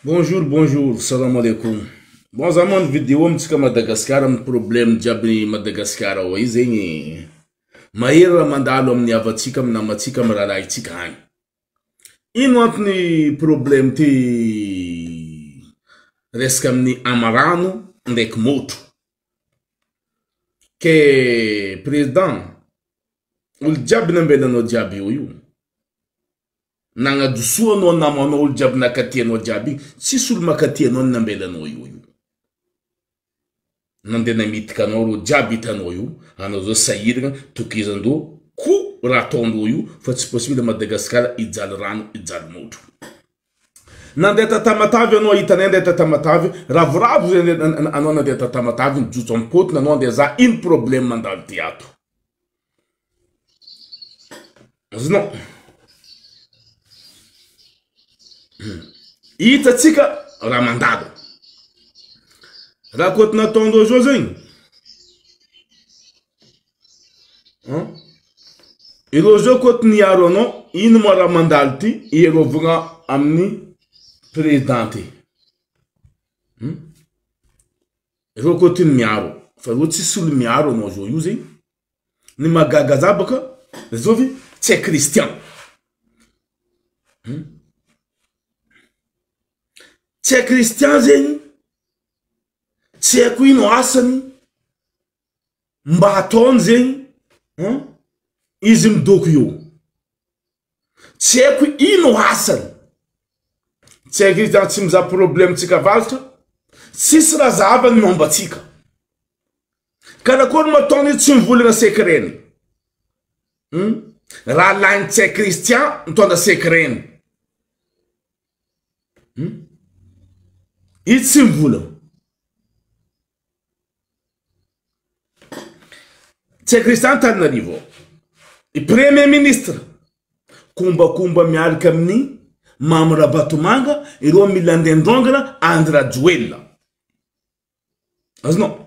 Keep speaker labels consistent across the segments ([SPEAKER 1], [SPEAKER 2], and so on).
[SPEAKER 1] Bonjour, bonjour, salam alaikum. Bon, za mano vidéo amintsika Madagascar amin'ny problème jiaby Madagascar ao io zegny mahery raha mandalo amin'ny havantsika, amin'ny namantsika, amin'ny rahalahintsika agny. Ino antony problème ty resaka amin'ny amarano ndraiky môtro. Ke président, olo jiaby nambelanao jiaby eo io. Nagnadosoa anao namanao olo jiaby nakaty anao jiaby igny tsisy olo makaty anao ny nambela anao io io nande namitika anao reo jiaby hitanao io anao zao sahiragna tokizandro ko ra ataondro io fa tsy possible Madagascar hijaly rano hijaly motro nande ta Tamatave anao hitanay nande ta Tamatave ravoravo zay anao nande ta Tamatave nijotso am potony anao nde aza ino probleme mandalo ty ato. Azonao? Hitantsika raha mandalo. Raha koty nataon'ireo zao zegny, ireo zao koty niaro anao, ino ma raha mandalo ty hiarovagna amin'ny président ty? Roa koa ty ny miaro fa roa tsisy olo miaro anao zao io zegny ny mahagaga za baka zao ve tsy hay christian hum tsy hay christian zegny tsy haiko ino asany mba ataony zegny hum izy midoko eo tsy haiko ino asany tsy haiko izy tsy mizaha problème tsika avaratra tsisy raha zahavany ny momba antsika karakory no ataony io tsy mivolagna secret-ny hmm? raha lainy tsy hay Christian mitondra secret-ny hmm? i tsy mivolagna Tsy haiko resy zany Tananarivo ao. I premier ministre kombakomba miaraka amin'ny Mamy Rabatomanga ireo mila andeha androangana Andry Rajoelina. Azonao.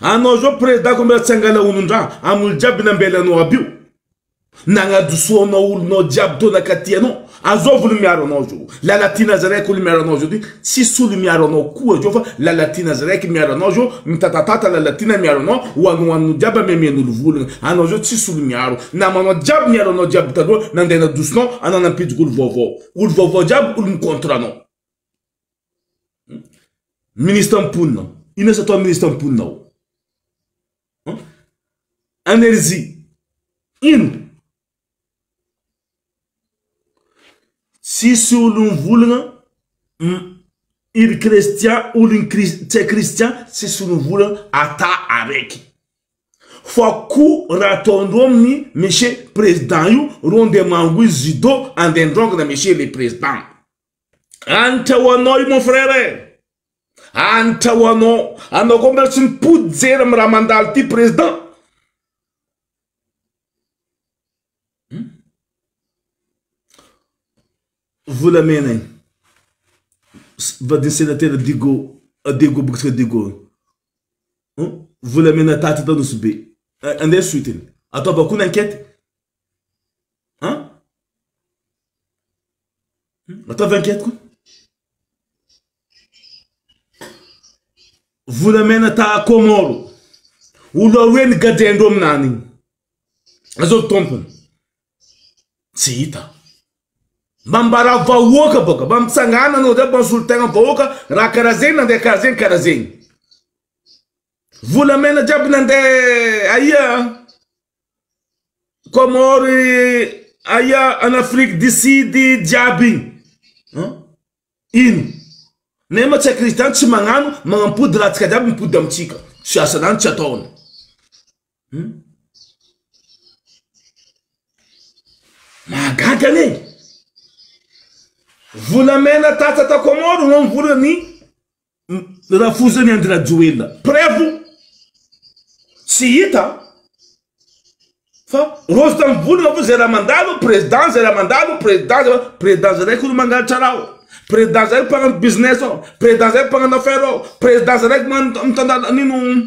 [SPEAKER 1] Anao zao prezidako mbola tsy angala olondra amolo jiaby nambelanao aby io nagnadisoanao olonao jiaby teo nakaty anao azao volo miaro anao zao lalatina azy raiky olo miaro anao zao ty tsisy olo miaro anao koa zao fa lalatina azy raiky miaro anao zao mitatatata lalatina miaro anao hoanohanonao jiaby amemen'olo volagna anao zao tsisy olo miaro namanao jiaby niaro anao jiaby taloha nandeha nadosonao anao nampidiko olo vaovao olo vaovao jiaby olo mi contre anao Ministre mponina aho. Inona izy atao ministre mponina aho? Energie. Ino? Tsisy olon'ny volagna iry Christian olon'ny tsy hay Christian tsisy olon'ny volagna ata araiky. Fa koa raha ataondreo amin'ny Monsieur président io reo ndeha mangohy judo andeha androngana Monsieur le président. Hanitra ho anao io mon frère eh! Hanitra ho anao! Anao koa mbola tsy mipody jery amin'ny raha mandalo ity président! volamena iny vadin'ny senatera digo diego bokitsika digo volamena taty atao nosy be andeha suite iny ataovako ny enquête Ataovy enquête koa. Volamena ta Comoro. Olo aroe ny gadendro aminany igny. Azao tompony. Tsy hita. Mba mbara vahoaka baka, mba mitsangana anao zay mba misolo tegna vahoaka raha karaha zegny nandeha karaha zegny karaha zegny. Volamena jiaby nandeha aia? Comore aia en Afrique du Sud jiaby igny an? Ino? Nefa moa tsy haiko izy zany tsy magnano magnampody ratsika jiaby mipody amintsika tsy asa zany tsy ataony hum mahagaga anie volamena tata tao Comore no mivola ny rafozan'i Andry Rajoelina prevo tsy hita fa rojo tanimboly rafozy zay raha mandalo président zay raha mandalo président zay président zay raiky olo mangalatra raha ao président zay mpanano business ao président zay mpanano affaire ao président zay raiky mitandala nino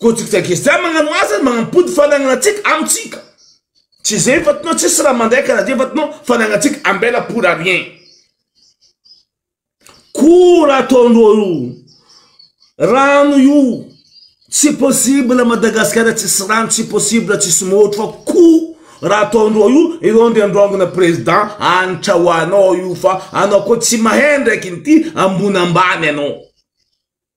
[SPEAKER 1] Godrika Gesta magnano asa manampody fanagnatsika amintsika tsy zay efa tinao tsisy raha mandray karaha zay efa tinao fanagnatsika ambela pour arien kora ataondreo io rano io tsy possible Madagasikara tsisy rano tsy possible tsisy môtro fa ko raha ataondreo io ireo ndry androangona président anitra ho anao io fa anao koa tsy mahay ndraiky nity ambony ambany anao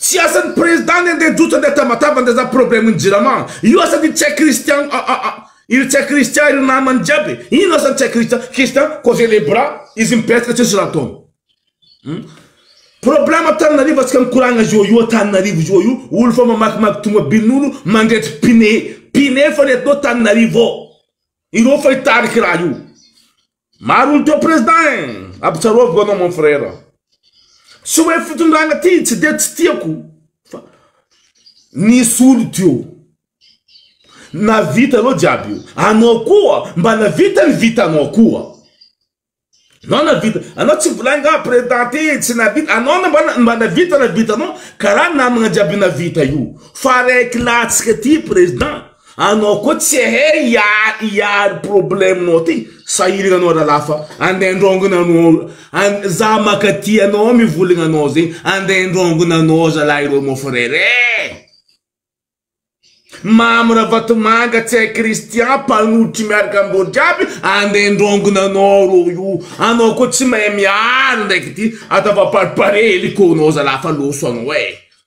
[SPEAKER 1] Tsy asan'ny président ny andeha jojo andeha tabataba andeha za problème ny jirama io asan'ny tsy hay Christian iry tsy hay Christian iry namany jiaby ino asan'ny tsy hay Christian Christian croiser les bras izy mipetraka tsisy raha ataony hmm? problème Antananarivo atsika mikoragna zio io Antananarivo zio io olo fa mamakimaky tomobilin'olo mandretsy pine pine fa nentinao Antananarivo ireo fa hitarika raha io Maro ny teo prezda eh! Ampitsaroaviko anao mon frère. Tsy hoe fitondrana ty tsy dia tsy tiako fa nisy olo teo navita ireo jiaby io. Anao koa mba navita ny vitanao koa. Anao navita, anao tsy volahy nga prezda ty tsy navita, anao mba navita na vitanao karaha namagna jiaby navita io. Fa raiky latsaka ty prezda. Anao koa tsy ahay hiary problème nao ty sahiragna anao ralah fa andeha andraongana anao an za makaty anao mivolagna anao zegny andeha andraongana anao zalah ireo mon frère eh Mamy Ravatomanga tsy hay Christian mpanotry miaraka amindreo jiaby andeha andraongana anao reo io anao koa tsy mahay miary ndraiky ty ataovapariparehy helikônao zalah fa loso anao eh.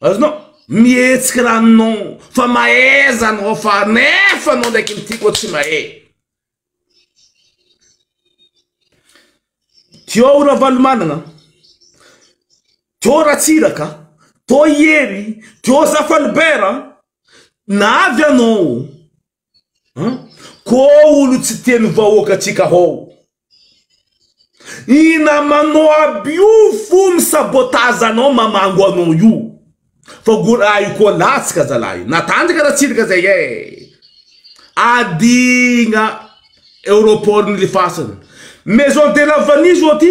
[SPEAKER 1] Azonao mihetsiky raha non fa mahaiza anao fa nefa anao ndraiky ny tiako tsy mahay. Teo Ravalomanana, teo Ratsiraka, teo i Hery, teo Zafalibert, na avy anao. An! Koo olo tsy teny vahoaka tsika hoo. I namanao aby io fo misabotage anao mamango anao io fa gora ahy koa latsaka zalahy natanjaka natsirika zay eh adigna aeroport nilifasany maison de la vanille zao ty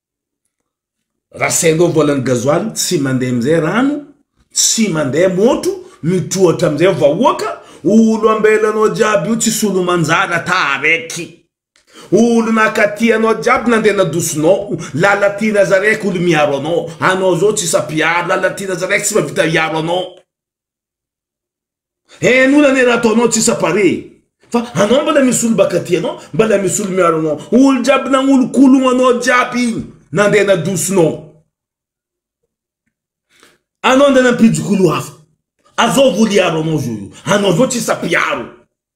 [SPEAKER 1] Raha sendra ovana ny gasoil tsy mandeha amizay rano, tsy mandeha môtro, mitroatra amizay vahoaka, olo ambelanao jiaby io tsisy olo manjara taraiky. Olo nakaty anao jiaby nandeha nadosonao, lalatirasa raiky olo miaro anao, anao zao tsisa mpiaro, lalatirasa raiky tsy mavita hiaro anao. Eeh nona ne raha ataonao tsy sapare e! Fa anao mbala misy olo baka tia anao, mbala misy olo miaro anao, olo jiaby nanolokologno anao jiaby igny nandeha nadosinao anao ndeha nampijokolo hafa, azao voly hiaro anao zao io, anao zao tsisa mpiaro.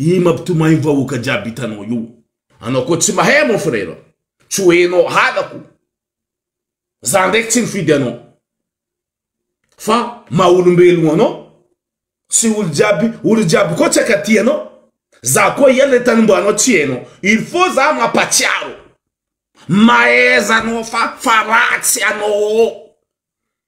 [SPEAKER 1] Ii mampitomay ny vahoaka jiaby hitanao io. Anao koa tsy mahay mon frère. Tsy ho enao halako. Za ndraiky tsy nifidy anao. Fa maha olombelogno anao. Tsy olo jiaby, olo jiaby koa tsy akaty anao. Za koa iany le tanombanao tsy enao. Il faut za mampatsiaro. Mahaiza anao fa fa ratsy anao.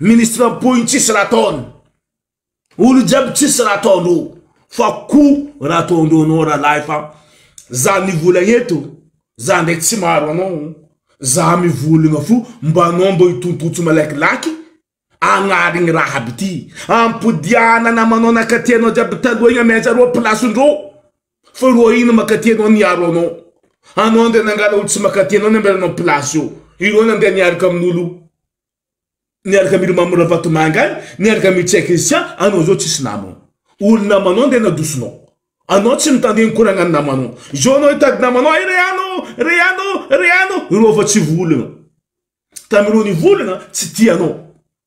[SPEAKER 1] Ministre mpoy tsisy raha ataony. Olo jiaby tsisy raha ataondreo. Fa ko raha ataondreo anao rahalahy fa za mivolagna eto za ndraiky tsy maro anao za mivolagna fo mba anao mba hitontotso malakilaky agnarigny raha aby ty. Ampodiagna namanao nakaty anao jiaby taloha igny amy ajareo place ndreo. Fa ro ahiana makaty anao ny hiaro anao. Anao andeha nangala olo tsy makaty anao namela anao place eo. Ireo nandeha niaraka amin'olo niaraka amin'i Rmamo Ravatomanga any, niaraka amin'i Tsia Christian, anao zao tsisy namana. Olo namanao andeha nadosonao. Anao tsy mitandregny koragnan'ny namanao. Zao anao hitady namanao hay re ano, re ano, re ano. Ireo efa tsy volagna. Tamin'ireo nivolagna tsy tia anao.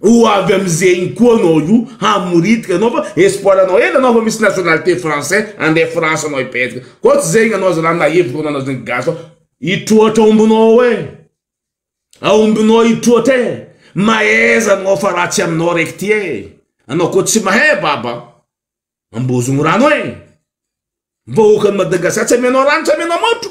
[SPEAKER 1] Ho avy amzegny koa anao io hamoritika anao fa espoir anao hely anao fa misy nationalité français andeha France anao hipetraka koa tsy zegny anao zalah na hevitra anao na zegny gasy fa hitroatra ombinao eh a ombinao hitroatra eh mahaiza anao fa raha tsy aminao raiky ty eh anao koa tsy mahay baba ambozogno rano eh vahoakan'i Madagascar tsy amianao rano tsy amianao matro.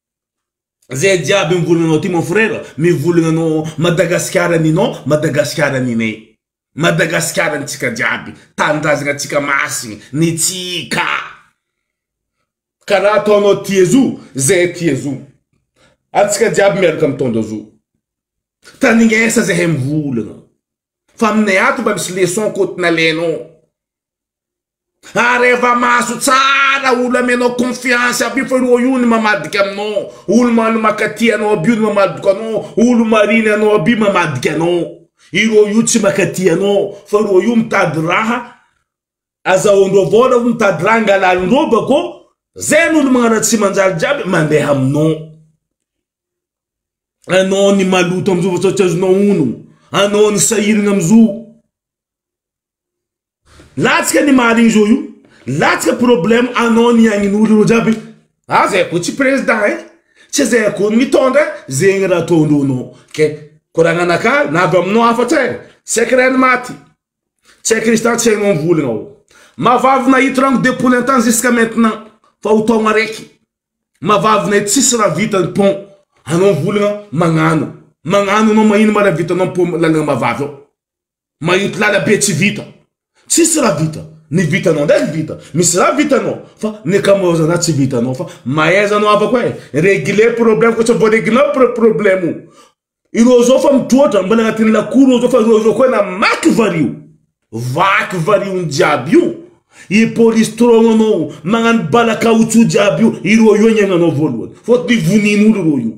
[SPEAKER 1] Zay jiaby mivolagna aty mon frère mivolagna anao Madagasikara ninao Madagasikara ninay Madagasikara nitsika jiaby tanindrazagna tsika masigny nitsika kara ataonao ty azo zay ty azo atsika jiaby miaraka mitondra azo tanignesa zahay mivolagna fa aminay ato mba misy leçon koa nalainao. Ary efa mahazo tsara olo amenao confiance aby io fa ireo io ny mamadika aminao, olo man makatia anao aby io no mamadiko anao, olo mariny anao aby io mamadika anao, ireo io tsy makatia anao fa ireo io mitady raha azahoandreo avao nareo mitady raha angalalindreo bakeo zay no olo magnaratsy manjary jiaby mandeha aminao, anao ny maloto amzao fa tsy azonao ono, anao ny sahiragna amzoo. Latsaka ny mahaligny zao io latsaka problème anao ny agninolo ireo jiaby ah zay ko tsy président eh tsy zay ko mitondra zegny raha ataondreo nao ke koragna anaka na avy aminao afatsy eh tsy aiko raha ny maty tsy aiko izy tany tsy hainao mivolagna oh mavavy nahito rano de poulet antany jusqu'à maintenant fa ho taogna araiky mavavy nahito tsisy raha vita ny pont anao mivolagna magnano magnano anao magnino ma raha vitanao pont lalagna mavavy ao Mayotte lalabe tsy vita. Tsisy raha vita. Ny vitanao ndraiky vita. Misy raha vitanao. Fa ny ankamaroza raha tsy vitanao. Fa mahaiza anao havako eh. Regler problème koa tsy vao reglenao pro problème o. Ireo zao fa mitroatra. Mbola agnatin'ny lakoro ireo zao fa ireo zao koa namaky vario. Vaky variony jiaby io. I polisy strong anao magnano bala kaotsou jiaby io. Ireo io agnenanao voalohany. Fôtony vonin'olo ireo io.